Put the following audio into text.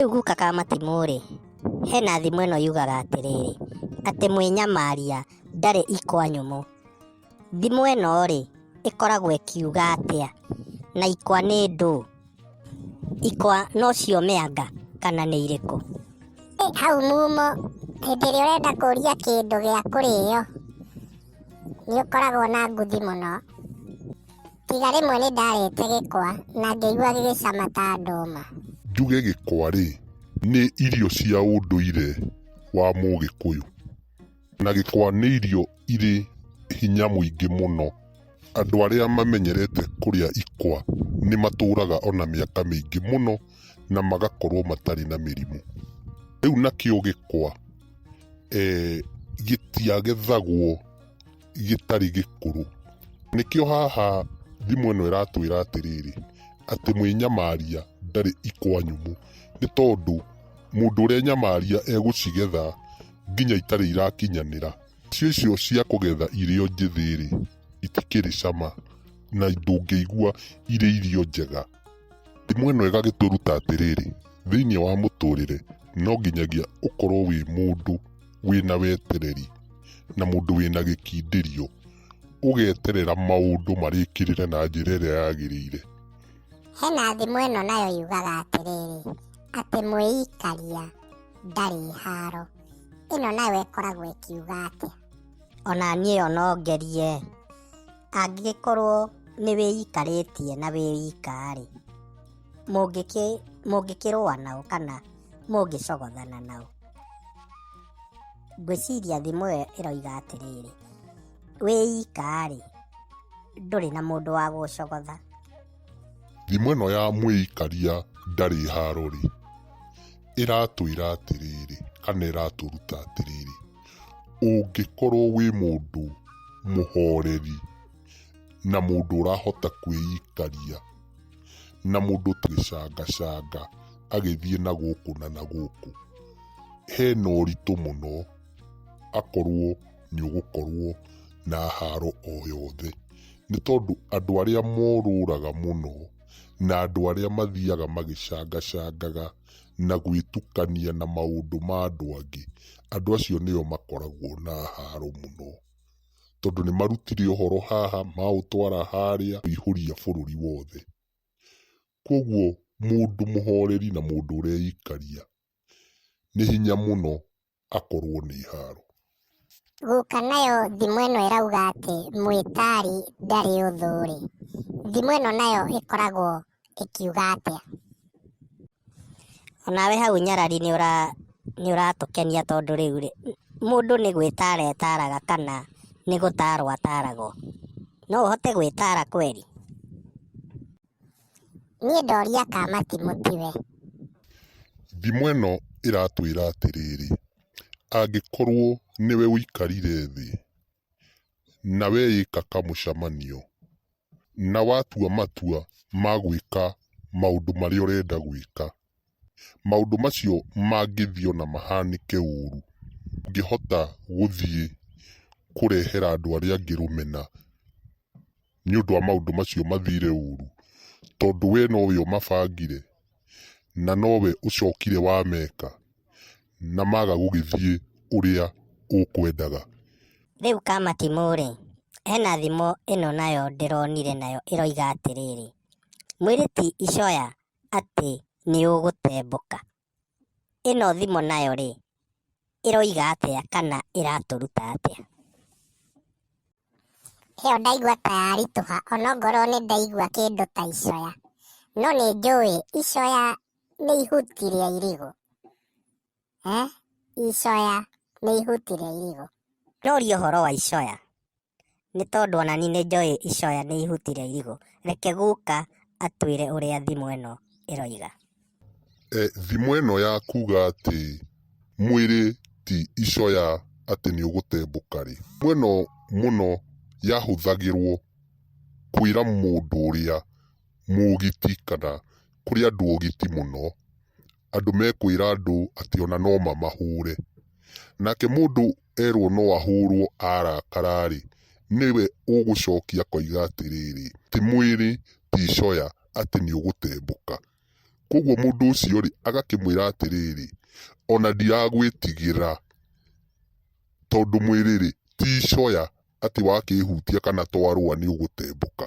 Rĩu guka ka matimũ-rĩ, hena thimo ĩno yugaga atĩrĩrĩ, atĩ mwĩnyamaria ndarĩ ikwa nyũmũ. Thimo ĩno-rĩ, ĩkoragwo ĩkiuga atĩa? Na ikwa nĩ ndũ? Ikwa nocio mĩanga kana nĩ irĩkũ? Ĩ hau mumo, hĩndĩ ĩrĩa ũrenda kũria kĩndũ gĩa kũrĩo, nĩ ũkoragwo na nguthi mũno. Tiga rĩmwe nĩ ndarĩte gĩkwa na ngĩigua gĩgĩcama ta ndũma. Njuge gĩkwa-rĩ, nĩ irio cia ũndũire wa Mũgĩkũyũ. Na gĩkwa nĩ irio irĩ hinya mũingĩ mũno. Andũ arĩa mamenyerete kũrĩa ikwa nĩ matũraga ona mĩaka mĩingĩ mũno na magakorwo matarĩ na mĩrimũ. Rĩu nakĩo gĩkwa gĩtiagethagwo gĩtarĩ gĩkũrũ. Nĩkĩo haha thimũ ĩno ĩratwĩra atĩrĩrĩ, atĩ mwĩnyamaria ndarĩ ikwa nyũmũ. Nĩ tondũ mũndũ ũrenyamaria egũcigetha nginya itarĩ irakinyanĩra. Irio icio cia kũgetha irĩ o njĩthĩ rĩ, itikĩrĩ cama na ndũngĩigua irĩ irio njega. Ndimũ ĩno ĩgagĩtũruta atĩrĩrĩ, thĩinĩ wa mũtũrĩre no nginyagia ũkorwo wĩ mũndũ wĩna wetereri na mũndũ wĩna gĩkindĩrio, ũgeterera maũndũ marĩkĩrĩre na njĩra ĩrĩa yagĩrĩire. Hena thimũ ĩno nayo yugaga atĩrĩrĩ, atĩ mwĩikaria ndarĩ haro. Ĩno nayo ĩkoragwo ĩkiuga atĩa? Ona niĩ ĩyo no ngerie. angĩgĩkorwo nĩ wĩikarĩtie na wĩ wika rĩ, mũngĩkĩrũa nao kana mũngĩcogothana nao? Ngwĩciria thimo ĩyo ĩroiga atĩrĩrĩ, wĩ wika rĩ, ndũrĩ na mũndũ wa gũgũcogotha. Thimo ĩno ya mwĩikaria ndarĩ haro rĩ, ĩratwĩra atĩrĩrĩ kana ĩratũruta atĩrĩrĩ. Ũngĩkorwo wĩ mũndũ mũhoreri, na mũndũ ũrahota kwĩikaria, na mũndũ ũtagĩcangacanga agĩthiĩ na gũkũ na na gũkũ, hena ũritũ mũno akorwo nĩ ũgũkorwo na haro o yothe. Nĩ tondũ andũ arĩa morũraga mũno, na andũ arĩa mathiaga magĩcangacangaga. na gwĩtukania na maũndũ ma andũ angĩ, andũ acio nĩo makoragwo na haro mũno. Tondũ nĩ marutire ũhoro haha, maũtwara harĩa, kũihũria bũrũri wothe. Kwoguo mũndũ mũhoreri na mũndũ ũreikaria, nĩ hinya mũno akorwo nĩ iharo. Gũka nayo thimũ ĩno ĩrauga atĩ mwĩtari ndarĩ ũthũ rĩ, thimũ ĩno nayo ĩkoragwo ĩkiuga atĩa? Onawe hau nyarari nĩ ũra nĩ ũratũkenia tondũ rĩu rĩ, mũndũ nĩ gwĩtara etaraga kana nĩ gũtarwo ataragwo. No ũhote gwĩtara kweri? Niĩ ndoria ka matimũ tiwe. Thimo ĩno ĩratwĩra atĩrĩrĩ, angĩkorwo nĩwe ũikarire thĩ na weyĩka kamũcamanio na watua matua ma gwĩka maũndũ marĩa ũrenda gwĩka. Maũndũ macio mangĩthiĩ ona mahanĩke ũru, ndũngĩhota gũthiĩ kũrehera andũ arĩa angĩ rũmena nĩ ũndũ wa maũndũ macio mathire ũru, tondũ we nowe ũmabangire na nowe ũcokire wameka na maga gũgĩthiĩ ũrĩa ũkwendaga. Rĩu Kamatimũ-rĩ, hena thimo ĩno nayo ndĩronire nayo ĩroiga atĩrĩrĩ, Mwĩrĩ ti icoya atĩ nĩ ũgũtembũka. Ĩno thimũ nayo rĩ, ĩroiga atĩa kana ĩratũruta atĩa? ĩyo ndaigua ta yaritũha onokorwo nĩ ndaigua kĩndũ ta icoya no nĩ njũĩ icoya nĩ ihuti rĩa irigũ eh? icoya nĩ ihuti rĩa irigũ Noria ũhoro wa icoya. Nĩ tondũ ona niĩ nĩ njũĩ icoya nĩ ihuti rĩa irigũ. Reke guka atwĩre ũrĩa thimo ĩno ĩroiga. E, thimo ĩno ya kuga atĩ mwĩrĩ ti icoya atĩ nĩ ũgũtembũka-rĩ, thimo ĩno mũno yahũthagĩrwo kwĩra mũndũ ũrĩa mũgiti kana kũrĩ andũ ogiti mũno. andũ mekwĩra andũ atĩ ona no mamahũre. Nake mũndũ erwo no ahũrwo arakara-rĩ, nĩwe ũgũcokia akoiga atĩrĩrĩ, ti mwĩrĩ ti coya atĩ nĩ ũgũtembũka. Kũoguo mũndũ ũcio-rĩ, agakĩmwĩra atĩrĩrĩ, ona ndiragwĩtigĩra tondũ mwĩrĩ-rĩ, ti coya atĩ wakĩhutia kana twarũa nĩ ũgũtembũka.